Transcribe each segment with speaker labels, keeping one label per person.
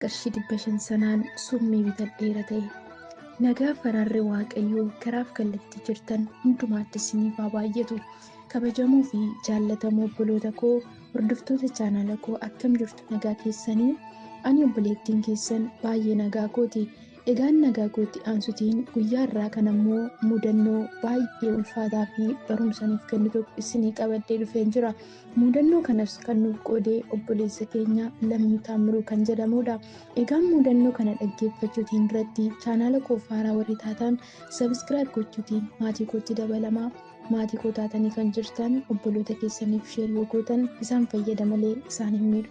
Speaker 1: qarshii dhibba shan sanaan summii bitadheera ta'e. Nagaa faraarri Waaqayyoo karaaf kallattii jirtan hundumaatti isiniif haa baay'atu. Kabajamoo fi jaallatamoo obboloota koo hordoftoota chaanala koo akkam jirtu nagaa keessanii? Ani obboleettiin keessan baay'ee nagaa kooti. Egaan nagaa kootti aansutiin guyyaa irraa kan ammoo mudannoo baay'ee ulfaataa fi barumsa nuuf kennu tokko isinii qabadhee dhufeen jira. Muudannoo kanas kan nuuf qoode obboleessa keenya Lammii Taammiruu kan jedhamudha. Egaan muudannoo kana dhaggeeffachuutiin duratti chaanaala koof haaraa warri taataan sabiskiraayib gochuutiin maatii kootti dabalamaa. Maatii koo taatanii kan jirtan obboloota keessaniif sheer yoo gootan isaan fayyada malee isaan hin miidhu.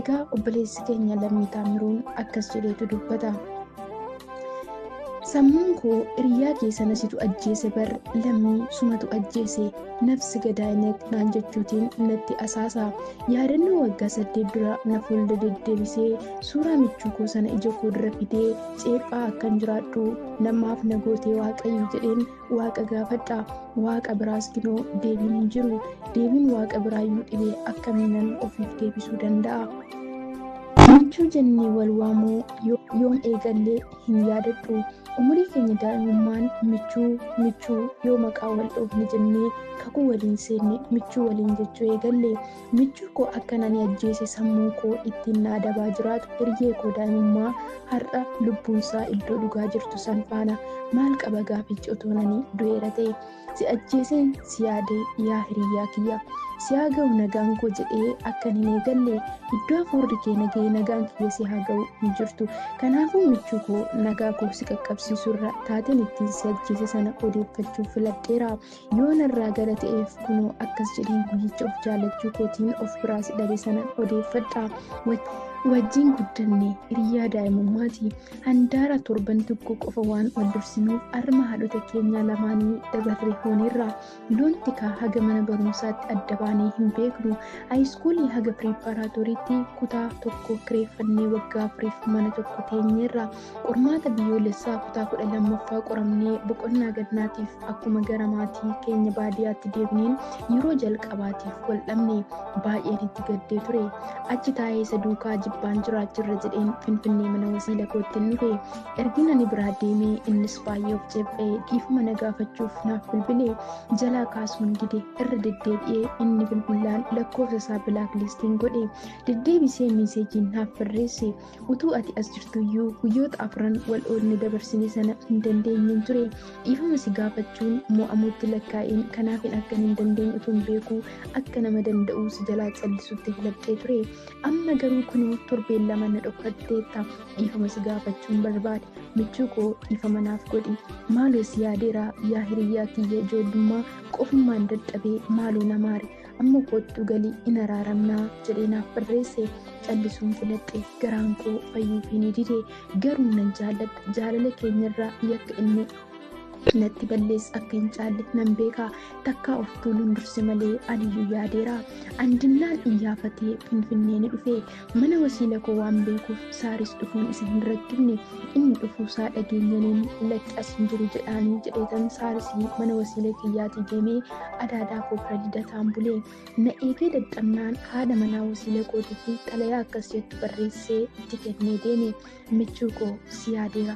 Speaker 1: Egaa obboleessi keenya Lammii Taammiruun akkas jedheetu dubbata. Sammuun koo hiriyaa kee sana situ ajjeese bar lammii sumatu ajjeese nafsi gadaa'ineet naan jechuutiin natti asaasa. Yaadannoo waggaa saddeet dura na fuulda deddeebisee suuraa michuu koo sana ija koo dura fidee ceephaa akkan jiraadhu namaaf na gootee waaqayyo jedheen Waaqa gaafadhaa waaqa biraas ginoo deebiin hin jiru deebiin waaqa biraa yoo dhibee akkamiinan ofiif deebisuu danda'a. Michuu jennee wal waamuu yoon eegallee hin yaadadhu umurii keenya daa'imummaan michuu michuu yoo maqaa wal dhoofne jennee kakuu waliin seenne michuu waliin jechuu eegalle Michuu koo akkan ani ajjeese sammuun koo ittiin na adabaa jiraatu hiriyee koo daa'imummaa har'a lubbuunsaa iddoo dhugaa jirtu san faana maal qaba gaafichi otoon ani du'eera ta'e si ajjeeseen si yaade yaa hiriyyaa kiyya si haa ga'u nagaan koo jedhee akkan hin eegalle iddoo hafuurri kee nagahee nagaan kiyya si haa ga'u hin jirtu kanaafuu michuu koo nagaa koo si qaqqabsiisurra taateen ittiin si ajjeese sana odeeffachuuf filadheera yoo narraa gara ta'eef kunoo akkas jedheen guyyicha of jaallachuu kootiin of biraa si dhabe sana odeeffadha wajjin guddanne hiriyaa daa'imummaati handaara torban tokko qofa waan wal dursinuuf arma haadhota keenyaa lamaanii dabarree hooneerra loon tikaa haga mana barumsaatti adda baanee hin beeknu haayiskuulii haga piriippaaraatooriitti kutaa tokko kireeffannee waggaa afuriif mana tokko teenyeerra Qormaata biyyoolessaa kutaa 12ffaa qoramnee boqonnaa gannaatiif akkuma gara maatii keenya baadiyaatti deemneen yeroo jalqabaatiif wal dhabne baay'een itti gaddee ture. Achi taa'ee isa duukaa jibbaan jiraachirra jedheen Finfinnee mana wasiila kootti hin dhufe. Ergin ani biraa deemee innis baay'ee of ceephee dhiifama na gaafachuuf naaf bilbile. Jalaa kaasuun dide irra deddeebi'ee inni bilbilaan lakkoofsa isaa bilaaklistiin godhe. Deddeebisee miiseejiin naaf barreesse. utuu ati as jirtuyyuu guyyoota afran wal oolne dabarsine sana hin dandeenyeen ture dhiifama si gaafachuun mo'amuutti lakkaa'een kanaafin akkan hin dandeenye utuun beekuu akka nama danda'uu si jalaa callisutti filadhee ture amma garuu kunuu torbeen lama na dhokfatteetta dhiifama si gaafachuun barbaade michuu koo dhiifama naaf godhi maaloo si yaadeera yaa hiriyyaa kiyya ijoollummaa qofummaan dadhabee maaloo na maari amma koottu galii in araaramnaa jedhee naaf barreesse callisuun filadhe garaan koo fayyuuf hin dide garuu nan jaalladha jaalala keenyarraa yakka inni natti ballees akka hin caalle nan beeka takkaa of tuuluun durse malee aniyyuu yaadeera andinnaan iyyaafatee finfinnee ni dhufe Mana wasiila koo waan beekuuf saaris dhufuun isa hin rakkifne inni dhufuusaa dhageenyaniin lakki as hin jiru jedhaanii jedheetan saarisii mana wasiila kiyyaatii deemee adaadaa koo bira lidataan bulee na eegee dadhabnaan haadha manaa wasiila kootitti xalayaa akkas jettu barreessee itti kennee deeme michuu koo si yaadeera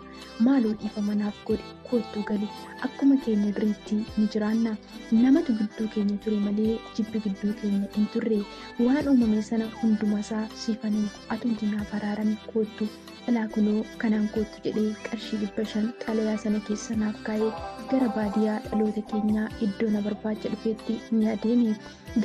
Speaker 1: maaloo dhiifama naaf godhi koottuu gali akkuma keenya duriitti ni jiraanna namatu gidduu keenya ture malee jibbi gidduu keenya hin turre waan uumame sana hundumasaa siifan himu atumti naaf araarami koottu ilaa kunoo kanaan koottu jedhee qarshii dhibba shan xalayaa sana keessa naaf kaa'ee gara baadiyaa dhaloota keenyaa iddoo na barbaacha dhufeetti ni adeeme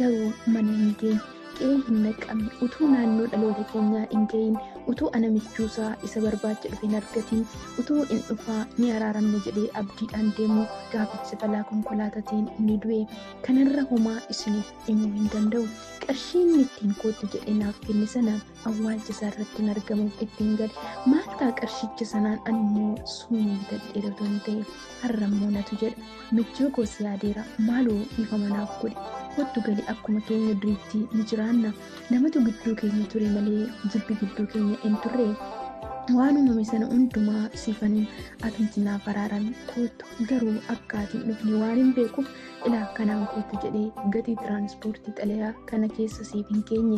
Speaker 1: garuu mana hin geenye qe'ee hin naqqabne utuu naannoo dhaloota keenyaa hin ga'iin utuu ana michuusaa isa barbaacha dhufe hin argatiin utuu in dhufaa ni araaramne jedhee abdiidhaan deemu gaaficha balaa konkolaataatiin ni du'e kanarra homaa isiniif himuu hin danda'u qarshiin ittiin koottu jedhee naaf kenne sana awwaalcha isaa irratti hin argamu ittiin gale maal ta'a qarshicha sanaan ani immoo summii bitadhee otoo hin ta'e har'a immoo natu jedha michuu koo si yaadeera maaloo dhiifama naaf godhi kottu gali akkuma keenya duriitti ni jiraanna namatu gidduu keenya ture malee jibbi gidduu keenya hin turre waan uumame sana hundumaa siifaniin atumti naaf araaran koottu garuu akka ati hin dhufne waan hin beekuuf ilaa kanaan koottu jedhee gatii tiraanispoortii xalayaa kana keessa siif hin keenye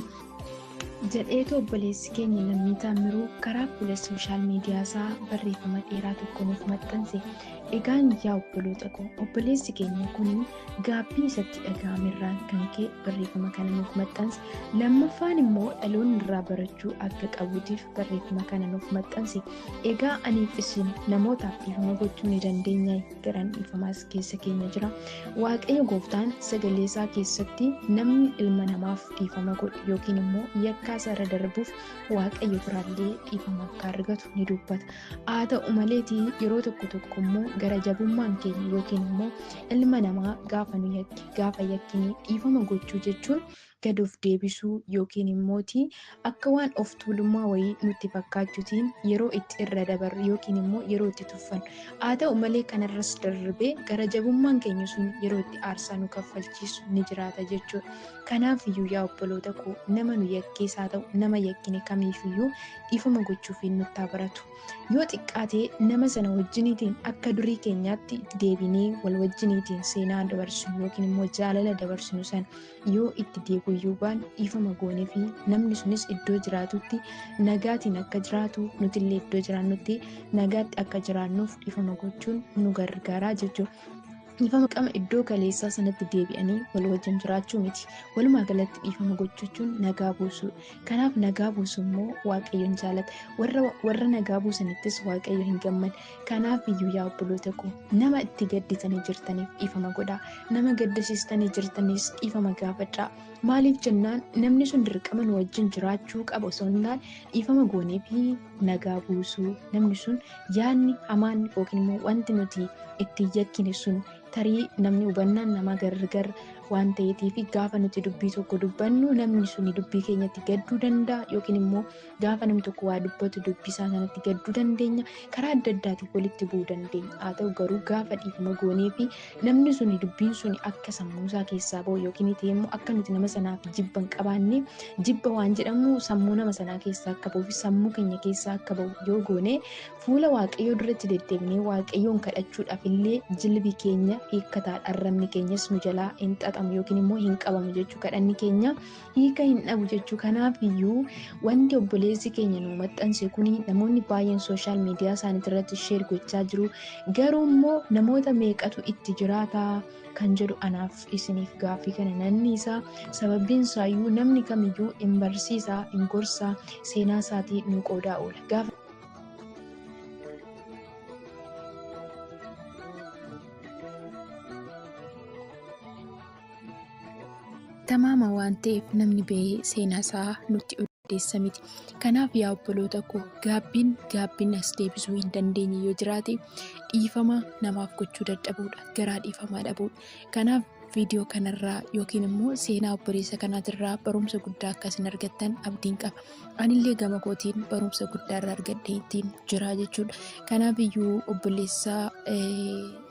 Speaker 1: Jedheetu obboleessi keenya Lammii Taammiruu karaa fuula sooshaal miidiyaa isaa barreeffama dheeraa tokko nuuf maxxanse. Egaan yaa obboloota koo obboleessi keenya kun gaabbii isatti dhaga'ame irraan kan ka'e barreeffama kana nuuf maxxanse. Lammaffaan immoo dhaloonni irraa barachuu akka qabuutiif barreeffama kana nuuf maxxanse. Egaa aniif isin namootaaf dhiifama gochuu ni dandeenya garaan dhiifamaas keessa keenya jira waaqayyo gooftaan sagalee isaa keessatti namni ilma namaaf dhiifama godhe yookiin immoo yakkaa isaa irra darbuuf waaqayyo biraallee dhiifama akka argatu ni dubbata haa ta'u maleetii yeroo tokko tokko immoo gara jabummaan keenya yookiin immoo ilma namaa gaafa nu yakke gaafa yakkine dhiifama gochuu jechuun gad of deebisuu yookiin immooti akka waan of tuulummaa wayii nutti fakkaachutiin yeroo itti irra dabarru yookiin immoo yeroo itti tuffannu haa ta'u malee kanarras darbee gara jabummaan keenya sun yeroo itti aarsaa nu kaffalchiisu ni jiraata jechuudha. Kanaaf iyyuu yaa obboloota koo nama nu yakkees haa ta'u nama yakkine kamiif iyyuu dhiifama gochuufiin nutti haa baratu. Yoo xiqqaatee nama sana wajjiniitiin akka durii keenyaatti deebinee wal wajjiniitiin seenaa dabarsinu yookiin immoo jaalala dabarsinu sana yoo itti deebi'uu baanne dhiifama goonee fi namni sunis iddoo jiraatutti nagaatiin akka jiraatu nuti illee iddoo jiraannutti nagaatti akka jiraannuuf dhiifama gochuun nu gargaaraa jechuudha. Dhiifama qama iddoo kaleessaa sanatti deebi'anii wal wajjin jiraachuu miti. Walumaa galatti dhiifama gochuun nagaa buusuu. Kanaaf nagaa buusu immoo waaqayyoon jaalata. Warra, warra nagaa buusanittis waaqayyo hin gammadu. Kanaaf iyyuu yaa obboloota koo nama itti gadditanii jirtaniif dhiifama godhaa. Nama gaddisiistanii jirtaniis dhiifama gaafadhaa. Maaliif jennaan namni sun dirqama nu wajjin jiraachuu qaba osoo hin taane dhiifama goonee fi nagaa buusuu namni sun yaadni hamaan yookiin immoo wanti nuti itti yakkine sun tarii namni hubannaan namaa gargar waan ta'eetii fi gaafa nuti dubbii tokko dubbannu namni sun dubbii keenyatti gadduu danda'a yookiin immoo Gaafa namni tokko waa dubbatu dubbisaa sanatti gadduu dandeenya. Karaa adda addaatiin walitti bu'uu dandeenya. Haa ta'u garuu gaafa dhiifama goonee fi namni suni dubbiin suni akka sammuu isaa keessaa ba'u yookiin ta'e immoo akka nuti nama sanaaf jibba hin qabaanne jibba waan jedhamu sammuu nama sanaa keessaa akka ba'uu fi sammuu keenya keessaa akka ba'u yoo goone fuula waaqayyoo duratti deddeebinee waaqayyoon kadhachuudhaaf illee jilbi keenya hiikkataadha arrabni keenyas nu jalaa hin xaxamu yookiin immoo hin qabamu jechuu kadhanni keenya hiika hin dhabu jechuu kanaaf iyyuu wanti obboleessi keenya nu maxxanse kun namoonni baay'een sooshaal miidiyaa isaaniitti irratti sheer gochaa jiru garuu immoo namoota meeqatu itti jiraata kan jedhu anaaf isiniif gaaffii kana nanni isaa sababiin isaayyuu namni kamiyyuu hin barsiisa hin gorsa seenaa isaatii nu qoodaa oola gaafa Tamaama waan ta'eef namni ba'ee seenaa isaa nutti odeessa miti. Kanaaf yaa obboloota koo gaabbiin gaabbiin as deebisuu hin dandeenye yoo jiraate dhiifama namaaf gochuu dadhabuudha. Garaa dhiifamaa dhabuudha. Kanaaf viidiyoo kanarraa yookiin immoo seenaa obboleessa kanaatirraa barumsa guddaa akka isin argattan abdiin qaba. Anillee gama kootiin barumsa guddaa irraa argadhee ittiin jira jechuudha. Kanaaf iyyuu obboleessa